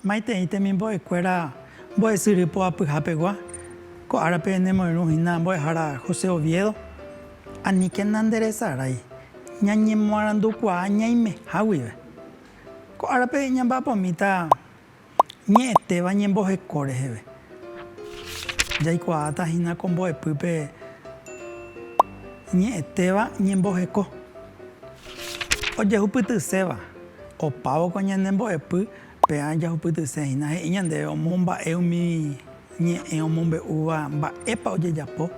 Maitei temimbo'ekuéra mbo'esyry poapyha pegua, ko árape nemoirũ hína mbo'ehára José Oviedo, Aníkena nderesarái, ñañemoarandukuaa ñaimeha guive. Ko árape ñamba'apómita ñe'ẽtéva ñemboheko reheve. Jaikuaáta hína ko mbo'epýpe ñe'ẽtéva ñemboheko. Ojehupytyséva, opávo ko ñane mbo'epy peã jahupytyse hína he'i ñandéve omomba'e umi ñe'ẽ omombe'úva mba'épa ojejapo.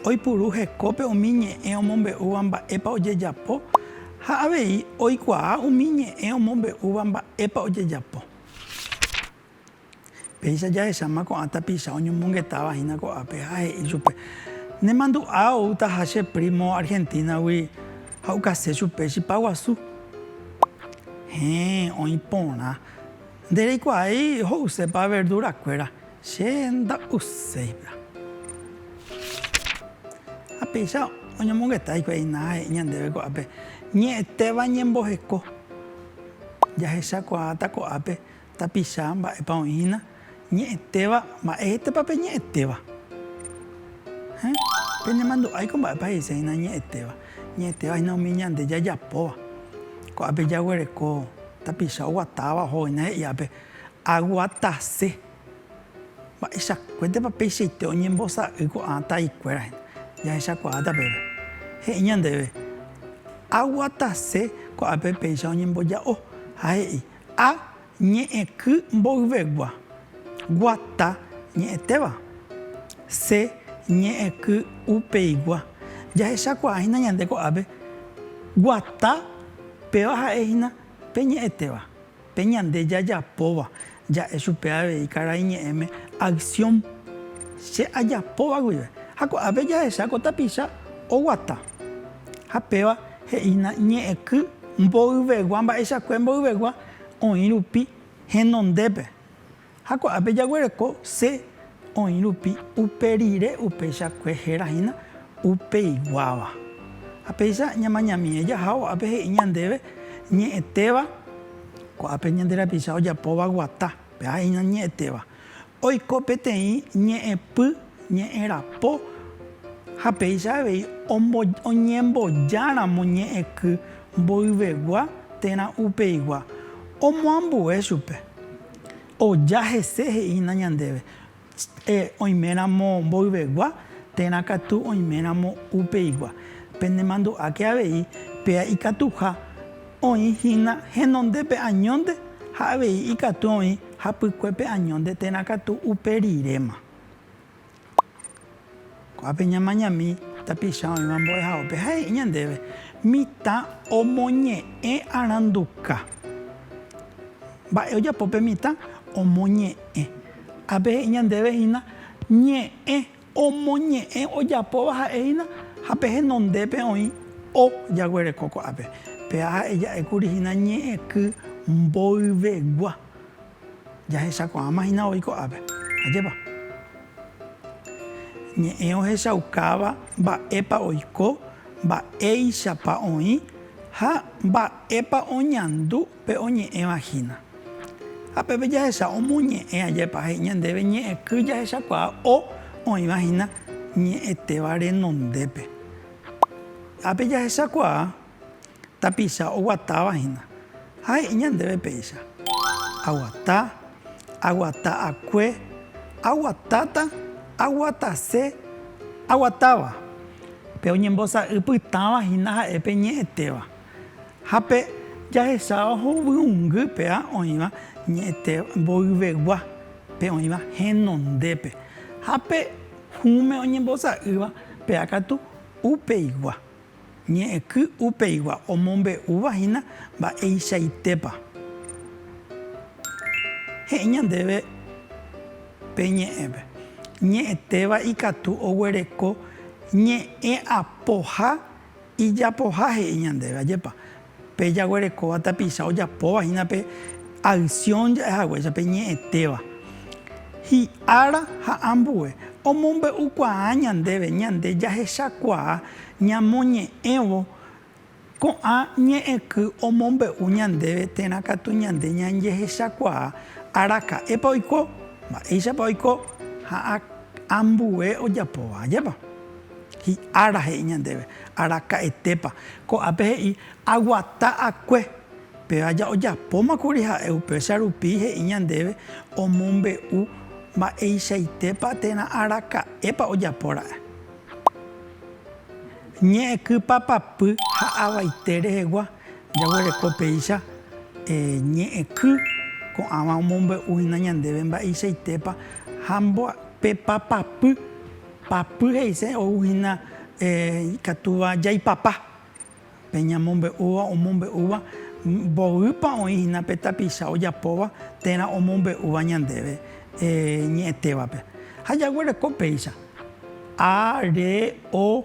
Oipuru hekópe umi ñe'ẽ omombe'úva mba'épa ojejapo ha avei oikuaa umi ñe'ẽ omombe'úva mba'épa ojejapo. Péicha jahecháma ko'ã tapicha oñomongetáva hína ko'ápe ha he'i chupe, Nemandu'a oútaha che prímo Argentínagui ha okase chupe chipa guasu. Héẽ, oĩ porã. Nde reikuaái ho'usépa verdurakuéra, Che nda'uséima. Ha péicha oñomongeta hikuái Ainaa he'i ñandéve ko'ápe, Ñe'ẽtéva ñemboheko. Jahechakuaáta ko'ápe tapicha mba'épa oĩhína, ñe'ẽtéva, mba'étepa peñe'ẽtéva. Héẽ, penemandu'áiko mba'épa he'iséhína ñe'ẽtéva. Ñe'ẽtéva hína umi ñande jajapóva. Ko'ápe jaguereko tapicha oguatáva oho hína he'iápe Aguatase. Mba'eichakuépa peichaite oñembosa'y ko'ã taikuéra hína? Jahechakuaáta peve. He'i ñandéve, Aguatase ko'ápe péicha oñemboja'o. Ha he'i, A ñe'ẽky mboyvegua, guata ñe'ẽtéva. C ñe'ẽky upeigua. Jahechakuaa hína ñande ko'ápe, guata péva ha'e hína pe ñe'ẽtéva. Pe ñande jajapóva, ja'e chupe avei karai ñe'ẽme acción che ajapóva guive. Ha ko'ápe jahecha ko tapicha oguata. Ha péva he'ína ñe'ẽky mboyvegua mba'eichakue mboyvegua oĩ rupi henondépe. Ha ko'ápe jaguereko Sé oĩ rupi upe rire upeichakue héra hína upeiguáva. Ha péicha ñamañamíe jahávo ápe he'i ñandéve ñe'ẽtéva, ko'ápe ñande rapicha ojapóva guata, pe'a he'ína ñe'ẽtéva, oiko peteĩ ñe'ẽpy ñe'ẽrapo ha péicha avei ombo oñembojáramo ñe'ẽky mboyvegua térã upeigua, omoambue chupe. Oja hese he'ína ñandéve, Che oiméramo mboyvegua, térã katu oiméramo upeigua. Penemandu'áke avei péa ikatuha oĩ hína henonde pe añónte ha avei ikatu oĩ hapykue pe añónte térã katu upe riréma. Ko'ápe ñamañami tapicha oĩva mbo'ehaópe ha he'i ñandéve, Mitã omoñe'ẽ aranduka. Mba'e ojapo pe mitã? Omoñe'ẽ. Ápe he'i ñandéve hína, Ñe'ẽ. Omoñe'ẽ ojapóva ha'e hína ha pe henondépe oĩ o jaguereko ko'ápe. Péva ha'e ja'e kuri hína ñe'ẽky mboyvegua. Jahechakuaáma hína voi ko'ápe. Ajépa. Ñe'ẽ ohechaukáva mba'épa oiko, mba'éichapa oĩ ha mba'épa oñandu pe oñe'ẽva hína. Ha peve jahecha omoñe'ẽ ajépa he'i ñandéve ñe'ẽky jahechakuaa o oĩva hína ñe'ẽtéva renondépe. Ápe jahechakuaa Tapicha oguatáva hína. Ha he'i ñandéve péicha, Aguata, aguata akue, aguatáta, aguatase, aguatáva. Pe oñembosa'y pytãva hína ha'e pe ñe'ẽtéva. Ha pe jahecháva hovyũngy péva oĩva ñe'ẽte mboyvegua, pe oĩva henondépe. Ha pe hũme oñembosa'ýva péva katu upeigua. Ñe'ẽky upeigua omombe'úva hína mba'eichaitépa he'i ñandéve pe ñe'ẽpe. Ñe'ẽtéva ikatu oguereko ñe'ẽapoha ijapoha he'i ñandéve, ajépa? Pe jaguerekóva tapicha ojapóva hína pe aksión ja'e haguéicha pe ñe'ẽtéva hi'ára ha ambue, omombe'ukuaa ñandéve ñande jahechakuaa ñamoñe'ẽvo ko'ã ñe'ẽky omombe'u ñandéve térã katu ñande ñanjehechakuaa araka'épa oiko, mba'éichapa oiko ha ambue ojapóva ajépa. Hi'ára he'i ñandéve, Araka'etépa. Ko'ápe he'i, Aguata akue. Pe aja ojapóma kuri ha'e, upéicha rupi he'i ñandéve omombe'u mba'eichaitépa térã araka'épa ojapo ra'e. Ñe'ẽky papapy ha avaite rehegua jaguereko péicha ñe'ẽky ko'ãva omombe'u hína ñandéve mba'eichaitépa ha pe papapy Papy he'ise ou hína ikatúva jaipapa pe ñamombe'úva omombe'úva mboýpa oĩ hína pe tapicha ojapóva térã omombe'úva ñandéve ñe'ẽtévape. Ha jaguereko péicha, a, re, o.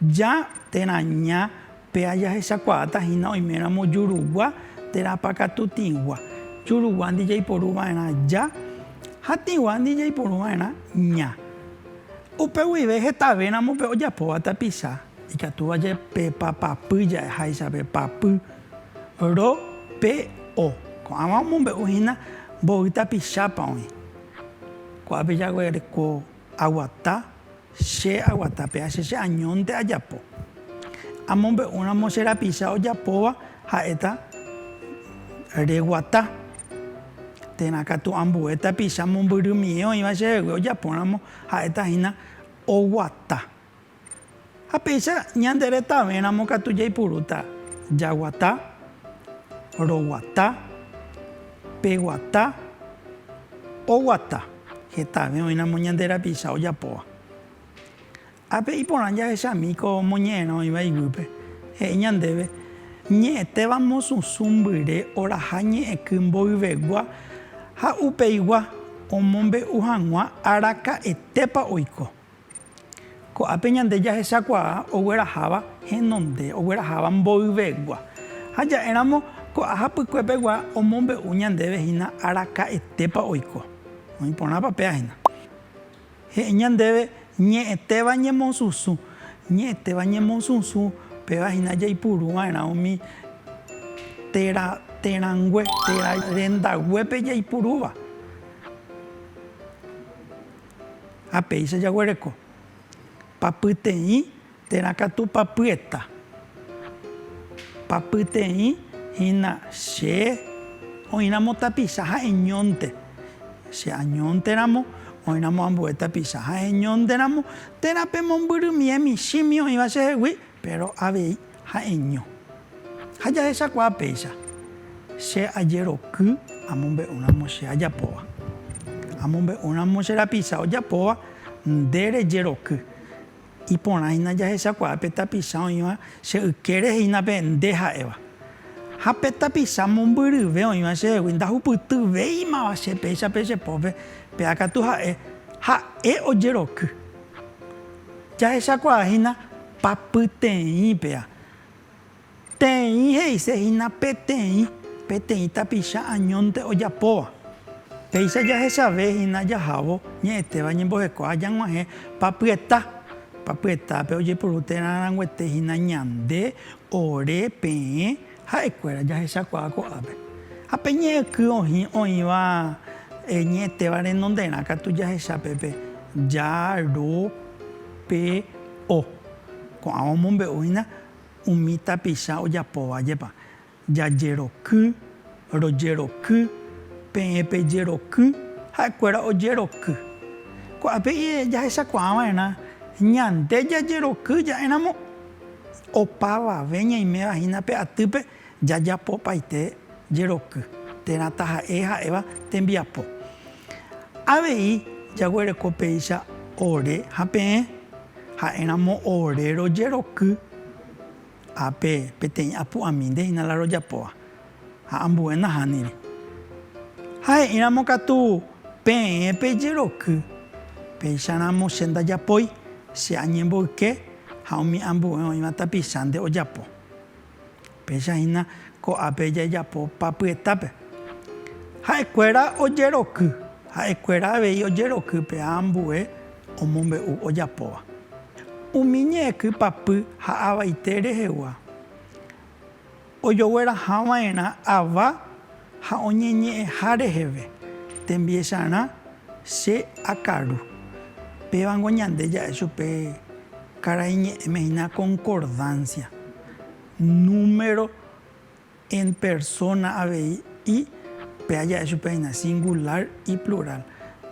Ja térã ña péa jahechakuaáta hína oiméramo jurugua térã pakatu tĩgua. Juruguándi jaiporu va'erã ja ha tĩguándi jaiporu va'erã ña. Upe guive hetavéramo pe ojapóva tapicha, ikatúva jave pe papapy ja'e háicha pe papy, ro, pe, o. Ko'ãva omombe'u hína mboy tapichápa oĩ. Ko'ápe jaguereko. Aguata, che aguata pe ache che añónte ajapo. Amombe'úramo che rapicha ojapóva ha'éta reguata. Térã katu ambue tapicha mombyrymie oĩva chehegui ojapóramo ha'éta hína oguata. Ha péicha ñande retãve ramo katu jaipurúta jaguata, roguata, peguata, oguata, hetave oĩ ramo ñande rapicha ojapóva. Ápe iporã jahechami ko moñe'ẽrã oĩva iguýpe, he'i ñandéve, Ñe'ẽtéva mosũsũ mbyre oraha ñe'ẽky mboyvegua ha upeigua omombe'u hag̃ua araka'etépa oiko. Ko'ápe ñande jahechakuaa ogueraháva henonde, ogueraháva mboyvegua. Ha ja'éramo ko'ã hapykue pegua omombe'u ñandéve hína araka'etépa oiko. Oĩ porãpa péa hína. He'i ñandéve ñe'ẽtéva ñemosusu. Ñe'ẽtéva ñemosusu péva hína jaipuru va'erã umi térã, térãngue, térã rendaguépe jaipurúva. Ha péicha jaguereko, pa pyteĩ térã katu pa pyeta. Pa pyteĩ hína che oĩramo tapicha ha'eñónte, che añónteramo oĩramo ambue tapicha ha'eñónteramo, térã pemombyrymi hemichĩmi oĩva chehegui. Péro avei ha'eño. Ha jahechakuaa péicha, che ajeroky amombe'úramo che ajapóva. Amombe'úramo che rapicha ojapóva, nde rejeroky. Iporãhína jahechakuaa pe tapicha oĩva che ykére hína pe nde ha'éva. Ha pe tapicha mombyryve oĩva chehegui ndahupytyvéimava che péicha pe che pópe, péakatu ha'e, ha'e ojeroky. Jahechakuaa hína papyteĩpea. Teĩ he'ise hína peteĩ, peteĩ tapicha añónte ojapóva. Péicha jahechave hína jahávo ñe'ẽtéva ñemboheko ha jag̃uahẽ papyeta. Papyetápe ojepuru térã arãnguete hína ñande, ore, peẽ. Ha'ekuéra jahechakuaa ko'ápe, ha pe ñe'ẽky ohĩ oĩva ñe'ẽtéva renonderã katu jahecha pépe ja ro pe o. Ko'ãva omombe'u hína umi tapicha ojapóva jepa, jajeroky, rojeroky, peẽ pejeroky, ha'ekuéra ojeroky. Ko'ápe jahechakuaa va'erã ñande jajeroky ja'éramo Opavave ñaiméva hína pe atýpe jajapopaite jeroky térã taha'e ha'éva tembiapo. Avei jaguereko péicha ore ha peẽ, ha'éramo ore rojeroky ha pe peteĩ apu'amínte hína la rojapóva. Ha ambue nahániri. Ha he'íramo katu peẽ pe jeroky, Péicharamo che ndajapói, che añemboyke ha umi ambue oĩva tapicha nde ojapo. Péicha hína ko'ápe jajapo papyetápe. Ha'ekuéra ojeroky, ha'ekuéra avei ojeroky pe ambue omombe'u ojapóva. Umi ñe'ẽky papy ha avaite rehegua. Ojoguerahava'erã ava ha oñeñe'ẽha reheve, tembiecharã che akaru. Pévango ñande ja'e chupe karaiñe'ẽme hína concordancia, número en persona avei y péa ja'e chupe hína singular y plural.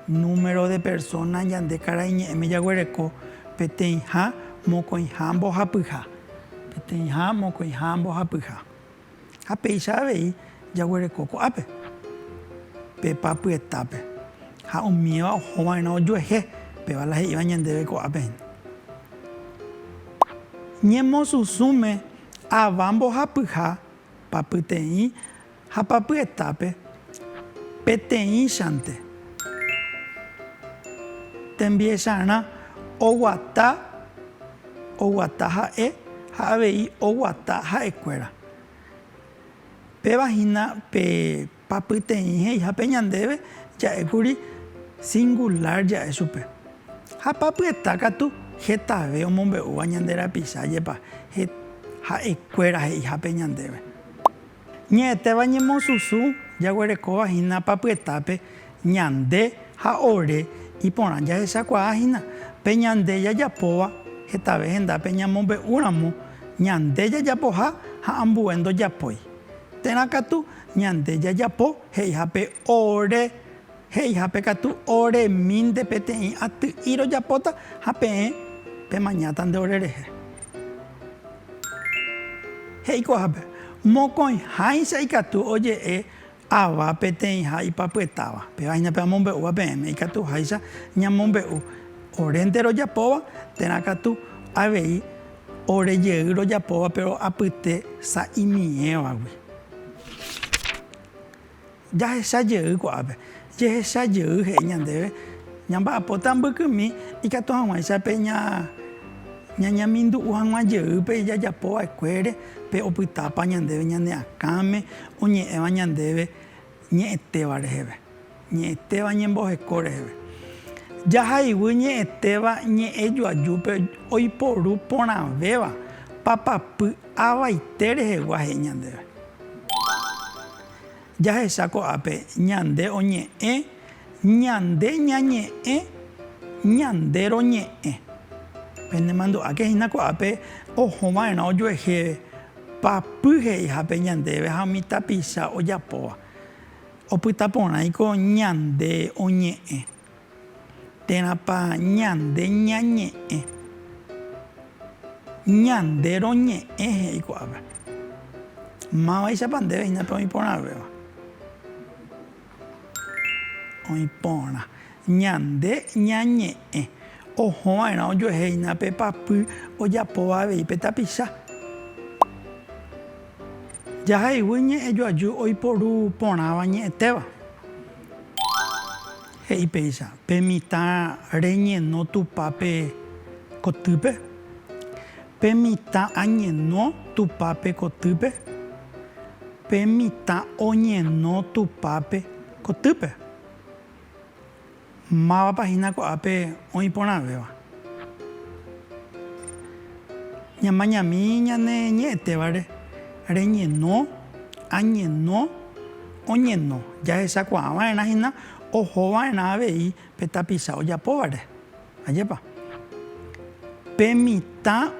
Número de persona ñande karaiñe'ẽme jaguereko peteĩha, mokõiha, mbohapyha. Peteĩha, mokõiha, mbohapyha. Ha péicha avei jaguereko ko'ápe, pe papyetápe. Ha umíva oho va'erã ojuehe, péva la he'íva ñandéve ko'ápe hína. Ñemosusũme ava mbohapyha, papyteĩ. Ha papyetápe, peteĩchante, tembiecharã oguata oguata ha'e ha avei oguata ha'ekuéra. Péva hína pe papyteĩ he'ihápe ñandéve ja'ékuri singular ja'e chupe. Ha papyeta katu hetave omombe'úva ñande rapicha jepa ha'ekuéra he'ihápe ñandéve. Ñe'ẽtéva ñemosusu jaguerekóva hína papyetápe ñande ha ore iporã jahechakuaa hína pe ñande jajapóva hetave hendápe ñamombe'úramo ñande jajapoha ha ambue ndojapói térã katu ñande jajapo he'iha pe ore He'ihápe katu oremínte peteĩ aty'i rojapóta ha peẽ pemañáta nde orerehe. He'ikuaahápe, mokõiháicha ikatu oje'e ava peteĩha ipapyetáva. Péva hína pe amombe'úva peẽme, ikatuháicha ñamombe'u orénte rojapóva térã katu avei ore jey rojapóva péro apyte sa'imiévagui. Jahecha jey ko'ápe. Jehecha jey he'i ñandéve ñamba'apóta mbykymi ikatu hag̃uáicha pe ñañamindu'u hag̃ua jey pe ijajapo va'ekuére, pe opytápa ñandéve ñane akãme oñe'ẽva ñandéve ñe'ẽtéva reheve, ñe'ẽtéva ñemboheko reheve. Jahayguy ñe'ẽtéva ñe'ẽ joajúpe oiporu porãvéva papapy avaite rehegua he'i ñandéve. Jahecha ko'ápe ñande oñe'ẽ, ñande ñañe'ẽ, ñande roñe'ẽ. Penemandu'áke hína ko'ápe oho va'erã ojuehe papy he'ihápe ñandéve ha umi tapicha ojapóva. Opyta porãiko ñande oñe'ẽ. Térãpa ñande ñañe'ẽ? Ñande roñe'ẽ he'i ko'ápe. Mávaichapa ndéve hína pe oĩporãvéva? Oĩporã. Ñande ñañe'ẽ. Oho va'erã ojuehe hína pe papy ojapóva avei pe tapicha. Jahayhu ñe'ẽjoaju oiporu porãva ñe'ẽtéva. He'i péicha, Pe mitã reñeno Tupãpe kotýpe, pe mitã añeno Tupãpe kotýpe, pe mitã oñeno Tupãpe kotýpe. Mávapa hína ko'ápe oĩ porãvéva? Ñamañami ñane ñe'ẽtévare reñeno, añeno. Oñeno, jahechakuaa va'erã hína oho va'erã avei pe tapicha ojapóvare. Ajépa? Pe mitã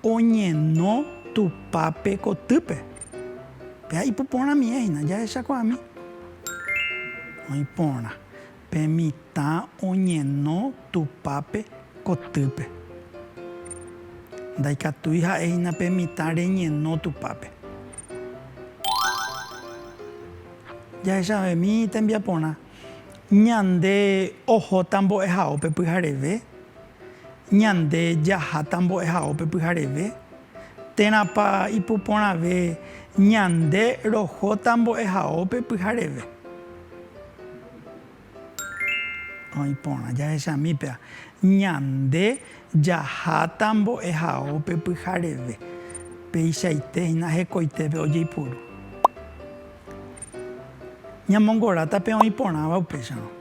oñeno Tupápe kotýpe. Péa ipu porãmie hína jahechakuaami. Oĩ porã. Pe mitã oñeno Tupápe kotýpe. Ndaikatúi ha'éhina pe mitã reñeno Tupápe. Jahechavemi tembiaporã. Ñande ohóta mbo'ehaópe pyhareve, ñande jaháta mbo'ehaópe pyhareve, térãpa ipuporãve ñande rohóta mbo'ehaópe pyhareve. Oĩ porã jahechami péva, ñande jaháta mbo'ehao pe pyhareve, peichaite hína hekoitépe ojeipuru. Ñamongoráta pe oĩ porãva upéicharõ,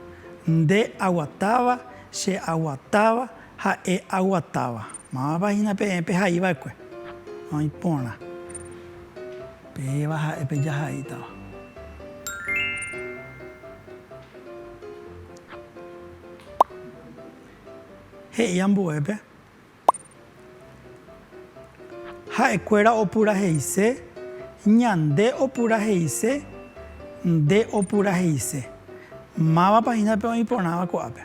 Nde aguatáva, che aguatáva, ha'e aguatáva. Mávapa hína peẽ pehaiva'ekue? Oĩ porã. Peẽva ha'e pe jahaítava. He'i ambuépe, Ha'ekuéra opuraheise, ñande opuraheise, nde opuraheise. Mávapa hína pe oĩ porãva ko'ápe?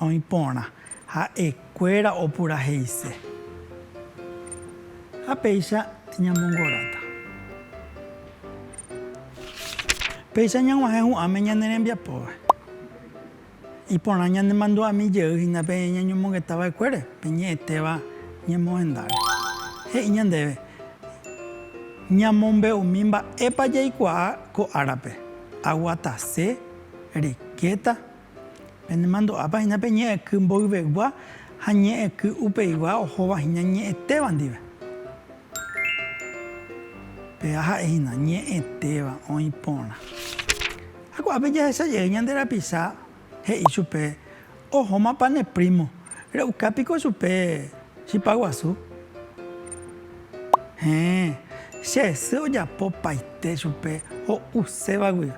Oĩ porã ha'ekuéra opuraheise. Ha péicha ñamongoráta. Péicha ñag̃uahẽ hu'ãme ñane rembiapóvae. Iporã ñanemandu'ami jey hína pe ñañomongeta va'ekuére, pe ñe'ẽtéva ñemohendáre. He'i ñandéve ñamombe'umi mba'épa jaikuaa ko árape, aguatase, riqueta, Penemandu'ápa hína pe ñe'ẽky mboyvegua ha ñe'ẽky upeigua ohóva hína ñe'ẽtéva ndive. Pea ha'e hína, ñe'ẽtéva, oĩ porã. Ha ko'ápe jahecha jey ñande rapisa he'i chupe, Ohómapa ne prímo, re'uka piko chupe chipa guasu? Héẽ, che sy ojapopaite chupe ho'uséva guive.